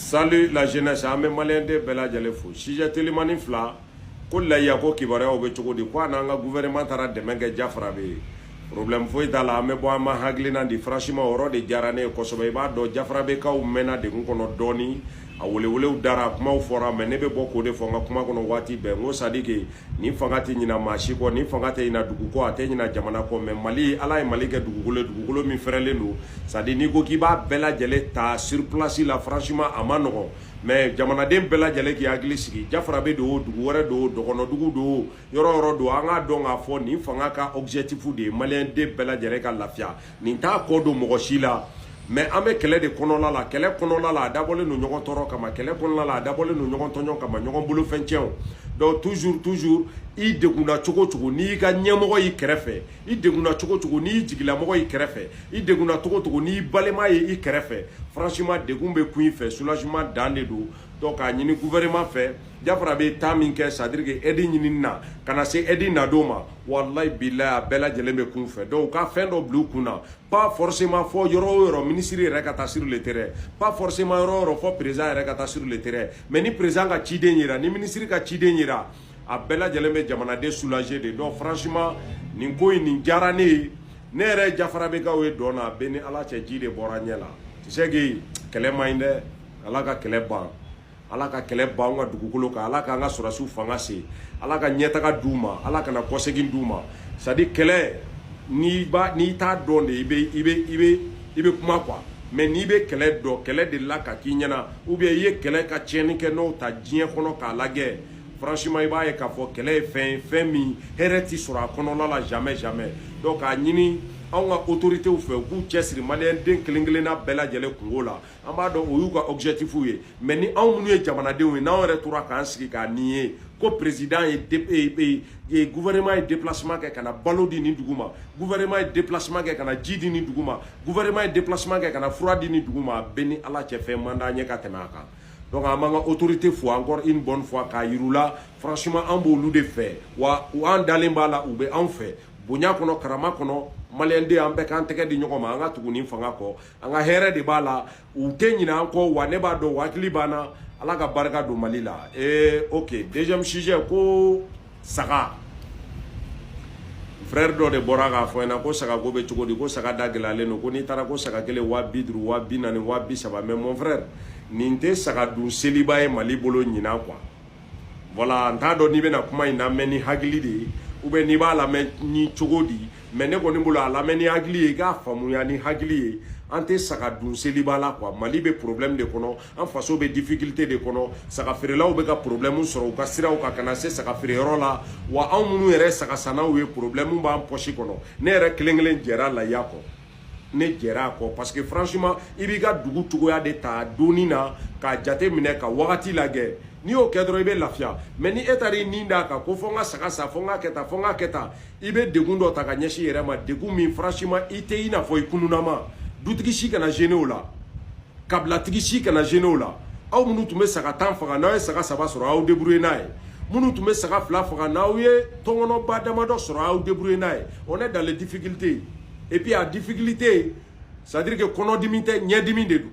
Salut la jeunesse an bɛ maliyɛnden bɛɛ lajɛlen fo sujet telimani fila ko layiya ko kibaruyaw bɛ cogo di ko a n'an ka gouvernement taara dɛmɛ kɛ jafarabɛ ye problème foyi t'a la an bɛ bɔ an ma hakilina di franchement o yɔrɔ de diyara ne ye kosɛbɛ i b'a dɔn jafarabɛkaw mɛnna degun kɔnɔ dɔɔni a welewelew dara kumaw fɔra mais ne bɛ bɔ k'o de fɔ n ka kuma kɔnɔ waati bɛɛ n ko c'est à dire que nin fanga tɛ ɲina maa si kɔ nin fanga tɛ ɲina dugu kɔ a tɛ ɲina jamana kɔ mais mali ala ye mali kɛ dugukolo ye dugukolo min fɛrɛlen don c'est à dire n'i ko k'i b'a bɛɛ lajɛlen ta sur place la franchement a man nɔgɔn mais jamanaden bɛɛ lajɛlen k'i hakili sigi jafarabɛ don o dugu wɛrɛ don o dɔgɔnɔdugu don o yɔrɔ yɔrɔ don an k'a dɔn k'a fɔ nin fanga ka objectif de ye maliyɛnden bɛɛ lajɛlen ka lafiya nin t'a kɔ don mɔgɔ si la mais an bɛ kɛlɛ de kɔnɔla la kɛlɛ kɔnɔla la a dabɔlen don ɲɔgɔn tɔɔrɔ kama kɛlɛ kɔnɔla la a dabɔlen don ɲɔgɔn tɔɲɔ kama ɲɔgɔn bolofɛn cɛw donc toujours toujours i degunna cogo cogo n'i ka ɲɛmɔgɔ y'i kɛrɛfɛ i degunna cogo cogo n'i jigilamɔgɔ y'i kɛrɛfɛ i degunna cogo cogo n'i balima ye i kɛrɛfɛ franchement degun bɛ kun i fɛ soulagement dan de don donc k'a ɲini gouvernement fɛ jafarabɛ ye temps min kɛ c'est à dire que aide ɲinini na ka na se aide nadon ma walayi bilayi a bɛɛ lajɛlen bɛ kun fɛ donc u ka fɛn dɔ bila u kun na pas forcément fɔ yɔrɔ o yɔrɔ minisiri yɛrɛ ka taa sur le terrain pas forcément yɔrɔ o yɔrɔ fɔ président yɛrɛ ka taa sur le terrain mais ni président ka ciden yera ni minisiri ka ciden yera a bɛɛ lajɛlen bɛ jamanaden soulager de donc franchement nin ko in nin diyara ne ye ne yɛrɛ jafarabɛkaw ye dɔn na bɛ ni ala cɛ ji de bɔra ɲɛ la tu sais que kɛlɛ man ɲi dɛ ala ka kɛlɛ ban ala ka kɛlɛ ban an ka dugukolo kan ala k'an ka sɔrɔdasiw fanga se ala ka ɲɛtaga d'u ma ala kana kɔsegin d'u ma c'est à dire kɛlɛ n'i ba n'i t'a dɔn de i bɛ i bɛ i bɛ i bɛ kuma quoi mais n'i bɛ kɛlɛ dɔn kɛlɛ delila ka k'i ɲɛna ou bien i ye kɛlɛ ka tiɲɛni kɛ nɔ ta diɲɛ kɔnɔ k'a lajɛ franchement i b'a ye k'a fɔ kɛlɛ ye fɛn ye fɛn min hɛrɛ ti sɔrɔ a kɔnɔna la jamais jamais donc k'a ɲini anw ka autorités fɛ u k'u cɛsiri maliyɛnden kelen kelenna bɛɛ lajɛlen kunko la an b'a dɔn o y'u ka objectif ye mais ni anw minnu ye jamanadenw ye n'anw yɛrɛ tora k'an sigi k'a ni ye ko président ye e, e, e, gouvernement ye déplacement kɛ ka na balo di nin dugu ma gouvernement ye déplacement kɛ ka na ji di nin dugu ma gouvernement ye déplacement kɛ ka na fura di nin dugu ma a bɛ ni ala cɛ fɛn man d'an ye ka tɛmɛ a kan donc an b'an ka autorité fo encore une bonne fois k'a yira u la franchement an b'olu de fɛ wa u an dalen b'a la u bɛ anw fɛ bonya kɔnɔ karama kɔnɔ maliyɛnden an bɛɛ k'an tɛgɛ di ɲɔgɔn ma an ka tugu nin fanga kɔ an ka hɛrɛ de b'a la u tɛ ɲinɛ an kɔ wa ne b'a dɔn u hakili b'an na ala ka barika don mali la ee eh, ok deuxième sujet ko saga frère dɔ de bɔra k'a fɔ n ɲɛna ko sagako bɛ cogo di ko saga da gɛlɛyalen don ko n'i taara ko saga kelen waa bi duuru waa bi naani waa bi saba mais mon frère nin tɛ saga dun seliba ye mali bolo ɲinan quoi voilà n t'a dɔn n'i bɛna kuma in lamɛn ni hakili de ye ou bien n'i b'a lamɛn ni cogo di mais ne kɔni bolo a lamɛn ni hakili ye i k'a faamuya ni hakili ye an tɛ saga dun seliba la quoi mali bɛ problème de kɔnɔ an faso bɛ difficulté de kɔnɔ saga feerelaw bɛ ka problème sɔrɔ u ka siraw kan ka na se saga feere yɔrɔ la wa anw minnu yɛrɛ saga sannaw ye problème b'an poche kɔnɔ ne yɛrɛ kelen kelen jɛra layiya kɔ ne jɛra a kɔ parce que franchement i b'i ka dugu cogoya de ta donni na k'a jate minɛ ka wagati lajɛ n'i y'o kɛ dɔrɔn i bɛ lafiya mɛ ni e taara i nin d'a kan ko fo n ka saga san fo n ka kɛ tan fo n ka kɛ tan i bɛ degun dɔ ta ka ɲɛsin i yɛrɛ ma degun min franchement i tɛ i n'a fɔ i kununama dutigi si kana gêner o la kabilatigi si kana gêner o la aw minnu tun bɛ saga tan faga n'aw ye saga saba sɔrɔ aw débrouiller n'a ye minnu tun bɛ saga fila faga n'aw ye tɔnkɔnɔba damadɔ sɔrɔ aw débrouiller n'a ye on est dans les difficultés et puis a difficulté c'est à dire que kɔnɔdimi tɛ ɲɛdimi de don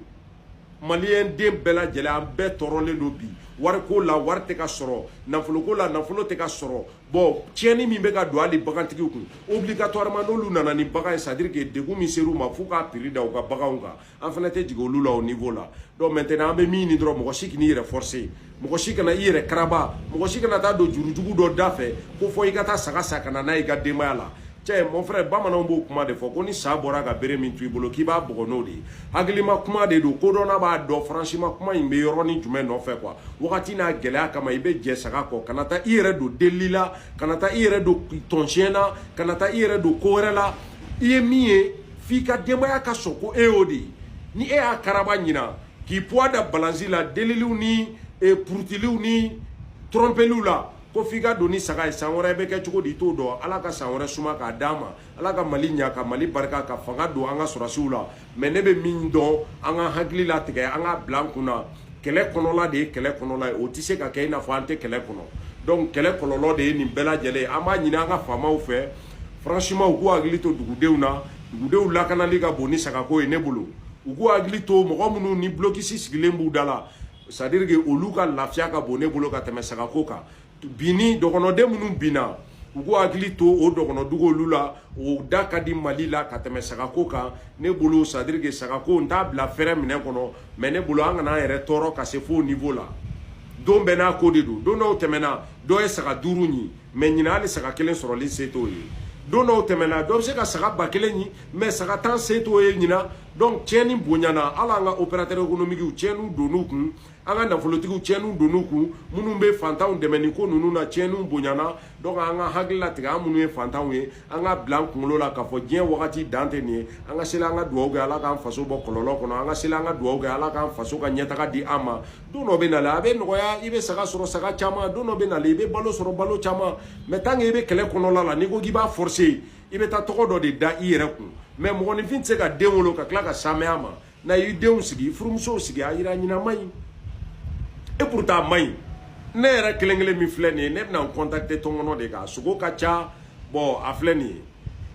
maliyɛn den bɛɛ lajɛlen an bɛɛ tɔɔrɔlen don bi wariko la wari tɛ ka sɔrɔ nafoloko la nafolo tɛ ka sɔrɔ bon tiɲɛni min bɛ ka don hali bagantigiw kun obligatoirement n'olu nana ni bagan ye c'est à dire que degun min ser'u ma f'u k'a prix da u ka baganw kan an fana tɛ jigin olu la o niveau la donc maintenant an bɛ min ɲini dɔrɔn mɔgɔ si kan'i yɛrɛ forcer mɔgɔ si kana i yɛrɛ karaba mɔgɔ si kana taa don jurujugu dɔ da fɛ ko fo i ka taa saga san ka na n'a ye i ka denbaya la cɛ mon frère bamananw b'o kuma de fɔ ko ni sa bɔra ka bere min to i bolo k'i b'a bugɔ n'o de ye hakilima kuma de don kodɔnna b'a dɔn franchement kuma in bɛ yɔrɔnin jumɛn nɔfɛ quoi wagati n'a gɛlɛya kama i bɛ jɛ saga kɔ kana taa i yɛrɛ don delili la kana taa i yɛrɛ don tɔnsiɲɛ na kana taa i yɛrɛ don ko wɛrɛ la i ye min ye f'i ka denbaya ka sɔn ko e y'o de ye ni e y'a karaba ɲinan k'i poids da balance la deliliw ni e, purutiliw ni tɔrɔnpeliw la ko f'i ka don ni saga ye san wɛrɛ bɛ kɛ cogo di i t'o dɔn ala ka san wɛrɛ suma k'a d'an ma ala ka mali ɲa ka mali barika ka fanga don an ka sɔrɔdasiw la mɛ ne bɛ min dɔn an ka hakili latigɛ an k'a bila an kun na kɛlɛ kɔnɔla de ye kɛlɛ kɔnɔla ye o tɛ se ka kɛ i n'a fɔ an tɛ kɛlɛ kɔnɔ donc kɛlɛ kɔlɔlɔ de ye nin bɛɛ lajɛlen ye an b'a ɲini an ka faamaw fɛ franchement u k'u hakili to dugudenw na dugudenw lakanali ka bon ni sagako ye ne bolo u k'u hakili to mɔgɔ minnu ni blocus sigilen b'u da la c'est à dire que olu ka lafiya ka bon ne bolo ka tɛmɛ sagako kan binni dɔgɔnɔden minnu binna u k'u hakili to o dɔgɔnɔdugu olu la o da ka di mali la ka tɛmɛ sagako kan ne bolo c'est à dire que sagako n t'a bila fɛrɛ minɛn kɔnɔ mais ne bolo an kana an yɛrɛ tɔɔrɔ ka se f'o niveau la don bɛɛ n'a ko de don don dɔw tɛmɛna dɔ ye saga duuru ɲi mɛ ɲinan hali saga kelen sɔrɔli se t'o ye don dɔw tɛmɛna dɔ bɛ se ka saga ba kelen ɲini mɛ saga tan se t'o ye ɲinan donc tiɲɛni bonyana hali an ka opérateur économiquew tiɲɛniw donn'u kun an ka nafolotigiw tiɲɛniw donn'u kun minnu bɛ fantanw dɛmɛ nin ko ninnu na tiɲɛniw bonyana donc an ka hakili latigɛ an minnu ye fantanw ye an k'a bila an kunkolo la k'a fɔ diɲɛ wagati dan tɛ nin ye an ka seli an ka dugawu kɛ ala k'an faso bɔ kɔlɔlɔ kɔnɔ an ka seli an ka dugawu kɛ ala k'an faso ka ɲɛtaga di an ma don dɔ bɛ na la a bɛ nɔgɔya i bɛ saga sɔrɔ saga caman don dɔ bɛ na i bɛ balo sɔrɔ balo caman mɛ tan i bɛ kɛlɛ kɔnɔla la n'i ko k'i b'a fɔse i bɛ taa tɔgɔ dɔ de da i yɛrɛ kun mɛ mɔgɔninfin tɛ se ka den wolo ka tila ka saya ma na y'i denw sigi furumusow sigi a jira ɲɛnama ɲi e pta a man ɲi ne yɛrɛ kelen kelen min filɛ nin ye ne bɛna n contenter tɔnkɔnɔ de kan sogo ka ca bɔn a filɛ nin ye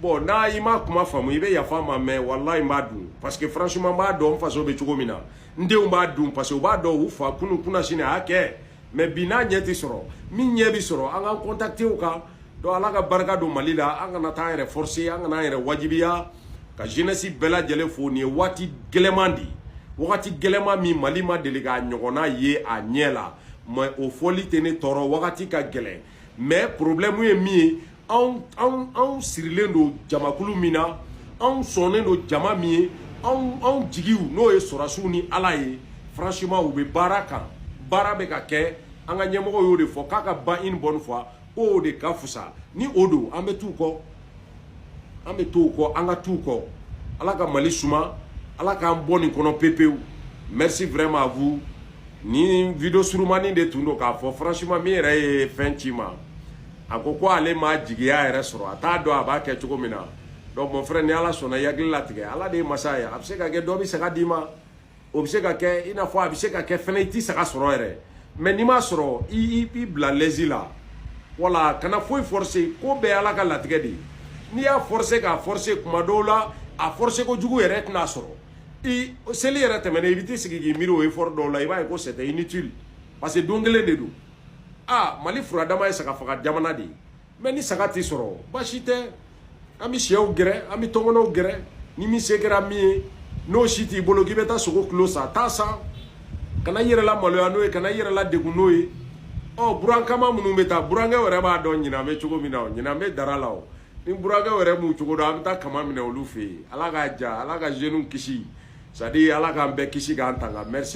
bɔn n'i ma kuma faamu i bɛ yafa n ma mɛ walayi n b'a dun paseke franchement n b'a dɔn faso bɛ cogo min na n denw b'a dun parce que u b'a dɔn u fa kunu kunasini a y'a kɛ mɛ bi n'a ɲɛ tɛ sɔrɔ min ɲɛ bɛ sɔrɔ an k'an contenter o kan donc ala ka barika don mali la an kana taa an yɛrɛ forcer an kana an yɛrɛ wajibiya ka jeunesse bɛɛ lajɛlen fo nin ye wagati gɛlɛman de ye wagati gɛlɛman min mali ma deli k'a ɲɔgɔnna ye a ɲɛ la mɛ o fɔli tɛ ne tɔɔrɔ wagati ka gɛlɛn mais problème ye min ye anw anw anw sirilen don jamakulu min na anw sɔnnen don jama min ye anw anw jigiw n'o ye sɔrɔdasiw ni ala ye franchement u bɛ baara kan baara bɛ ka kɛ an ka ɲɛmɔgɔ y'o de fɔ k'a ka ban une bonne fois k'o de ka fusa ni o don an bɛ t'u kɔ an bɛ t'u kɔ an ka t'u kɔ ala ka mali suma ala k'an bɔ nin kɔnɔ pepewu merci vraiment à vous nin video surumani de tun don k'a fɔ franchement min yɛrɛ ye fɛn ci n ma a ko ko ale ma jigiya yɛrɛ sɔrɔ a t'a dɔn a b'a kɛ cogo min na donc mon frère ni ala sɔnna i hakili latigɛ ala de ye masa ye a bɛ se ka kɛ dɔ bɛ saga d'i ma o bɛ se ka kɛ i n'a fɔ a bɛ se ka kɛ fɛnɛ i tɛ saga sɔrɔ yɛrɛ mɛ n'i m'a sɔrɔ i i bila lɛzi la wala kana foyi forcer ko bɛɛ ala ka latigɛ de ye n'i y'a forcer k'a forcer kuma dɔw la a forcer kojugu yɛrɛ tɛna sɔrɔ i seli yɛrɛ tɛmɛna i bɛ t'i sigi k'i miiri o effort dɔw la i b'a ye ko c'est inutile parce que don kelen de don aa mali furadama ye saga faga jamana de ye mɛ ni saga tɛ sɔrɔ baasi tɛ an bɛ sɛw gɛrɛ an bɛ tɔnkɔnɔw gɛrɛ ni min se kɛra min ye n'o si t'i bolo k'i bɛ taa sogo kilo san taa san kana i yɛrɛ la maloya n'o ye kana i yɛrɛ la degun n'o ye ɔ buran kaman minnu bɛ taa burankɛ yɛrɛ b'a dɔn ɲinan bɛ cogo min na o ɲinan bɛ dara la o ni burankɛ yɛrɛ b'u cogo dɔn an bɛ taa kaman minɛ olu fɛ yen ala k'a ja ala ka jeunes kisi c'est à dire ala k'an bɛɛ kisi k'an tanga merci